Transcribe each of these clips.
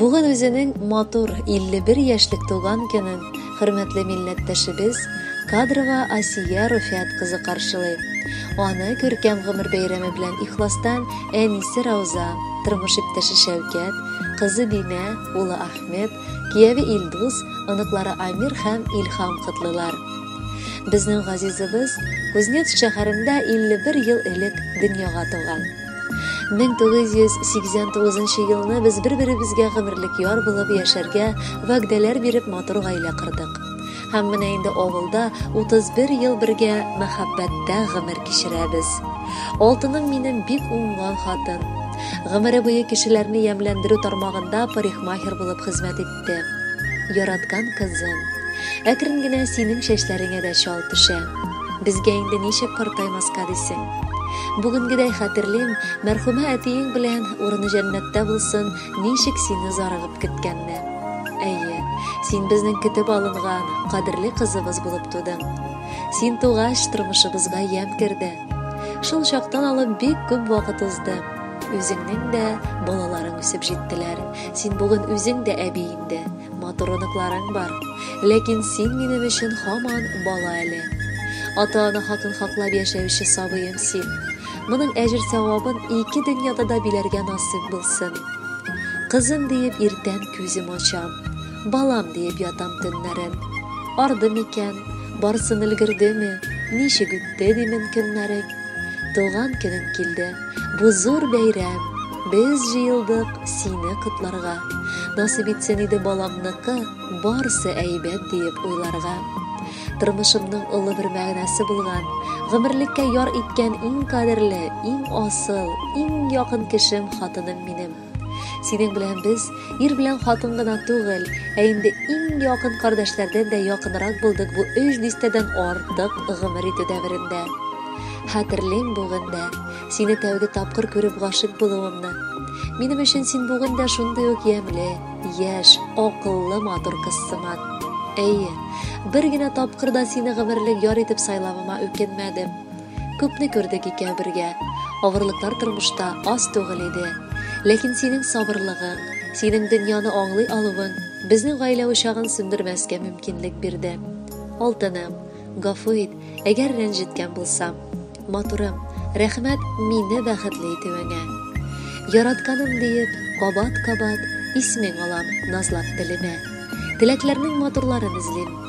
Бүген үзенең матур 51 яшьлек туган көнен хөрмәтле милләттәшебез Кадрова Асия Руфиат кызы каршылый. Аны күркәм гомер бәйрәме белән ихластан әнисе Рауза, тормыш иптәше Шәүкәт, кызы Динә, улы Ахмед, кияве Илдус, оныклары Амир һәм Илхам котлыйлар. Безнең газизыбыз Кузнецк шәһәрендә 51 ел элек дөньяга туган. 1989 елны без бер-беребезгә гомерлек яр булып яшәргә вәгъдәләр биреп матур гаилә кырдык. Һәм менә инде авылда 31 ел бергә мәхәббәттә гомер кичерәбез. Алтыным минем бик уңган хатын. Гомере буе кешеләрне ямьләндерү тармагында парикмахер булып хезмәт итте. китте. Яраткан кызым, әкрен генә синең чәчләреңә дә чал төшә. Безгә инде ничек картаймаска дисең? Бүгенгедәй хәтерлим, мәрхүмә әтиең белән урыны җәннәттә булсын, ничек сине зарыгып көткәнне. Әйе, син безнең көтеп алынган, кадерле кызыбыз булып тудың. Син тугач, тормышыбызга ямь керде. Шул чактан алып бик күп вакыт узды. Үзеңнең дә балаларың үсеп җиттеләр. Син бүген үзең дә әби инде. Матур оныкларың бар. Ләкин син минем өчен һаман бала әле. Ата-ана хакын хаклап яшәүче сабыем син. Моның әҗер-савабын ике дөньяда да биләргә насыйп булсын. Кызым диеп иртән күзем ачам. Балам диеп ятам төннәрен. Арды микән, барсын өлгердеме, ничек үтте димен көннәрең. Туган көнең килде, бу зур бәйрәм, без җыелдык сине котларга. Насыйп итсен иде балаңныкы, барсы әйбәт диеп уйларга. Тормышымның олы бер мәгънәсе булган, гомерлеккә яр иткән иң кадерле, иң асыл, иң якын кешем хатыным минем. Синең белән без ир белән хатын гына түгел, ә инде иң якын кардәшләрдән дә якынрак булдык бу өч дистәдән артык гомер итү дәверендә. Хәтерлим бүген дә, сине тәүге тапкыр күреп гашык булуымны. Минем өчен син бүген дә шундый ук ямьле, яшь, акыллы, матур кыз сыман. Әйе, бер генә тапкыр да сине гомерлек яр итеп сайлавыма үкенмәдем. Күпне күрдек икәү бергә. Авырлыклар тормышта аз түгел иде. Ләкин синең сабырлыгың, синең дөньяны аңлый алуың безнең гаилә учагын сүндермәскә мөмкинлек бирде. Алтыным, гафу ит, әгәр рәнҗеткән булсам. Матурым, рәхмәт мине бәхетле итүеңә. Яратканым диеп, кабат-кабат исмең алам, назлап телемә. Теләкләрнең матурларын эзлим.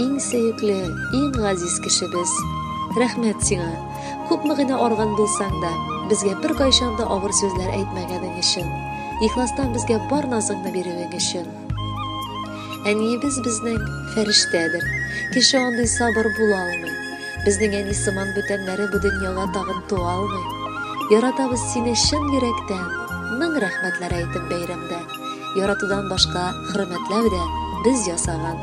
Иң сөекле, иң газиз кешебез. Рәхмәт сиңа. Күпме генә арган булсаң да, безгә бер кайчан да авыр сүзләр әйтмәгәнең өчен, ихластан безгә бар назыңны бирүең өчен. Әниебез безнең фәрештәдер. Кеше андый сабыр була алмый. Безнең әни сыман бүтәннәре бу дөньяга тагын туа алмый. Яратабыз сине чын йөрәктән. Мең рәхмәтләр әйтеп бәйрәмдә. Яратудан башка хөрмәтләү дә без ясаган